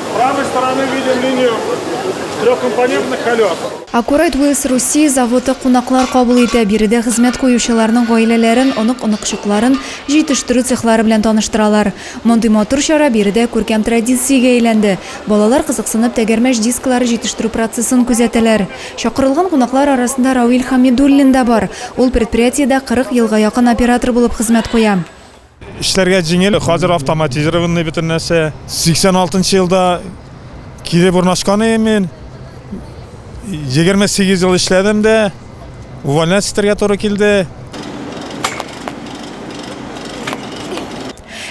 С правой стороны видим линию трехкомпонентных колес. Аккурайт Вилс Русия заводы кунаклар кабул итә, биредә хезмәт куючыларның гаиләләрен, онык-оныкчыкларын җитештерү цехлары белән таныштыралар. Мондый матур чара биредә күркәм традициягә әйләнде. Балалар кызыксынып тәгәрмәч дисклары җитештерү процессын күзәтәләр. Чакырылган кунаклар арасында Равил Хамидуллин да бар, ул предприятиедә 40 елга якын оператор булып хезмәт куя. Эшләргә җиңел, хәзер автоматизированный бөтен нәрсә. 86 елда килеп урнашкан идем мин. 28 ел эшләдем дә, увольняться итәргә туры килде.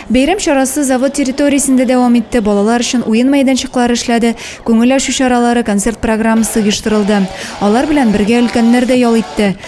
Бәйрәм чарасы завод территориясендә дәвам итте. Балалар өчен уен мәйданчыклары эшләде, күңел ачу чаралары, концерт программасы оештырылды. Алар белән бергә өлкәннәр дә ял итте.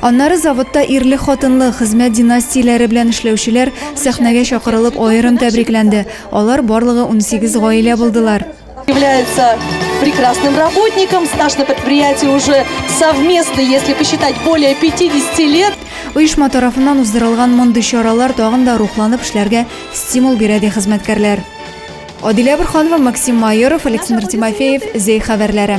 Аннары заводта ирле-хатынлы, хезмәт династияләре белән эшләүчеләр сәхнәгә чакырылып аерым тәбрикләнде. Алар барлыгы унсигез гаилә булдылар. является прекрасным работником, стаж на предприятии уже совместный, если посчитать, более 50 лет. Оешма тарафыннан уздырылган мондый чаралар тагын да рухланып эшләргә стимул бирә, ди хезмәткәрләр. Адилә Борһанова, Максим Майоров, Александр Тимофеев, Зәй хәбәрләре.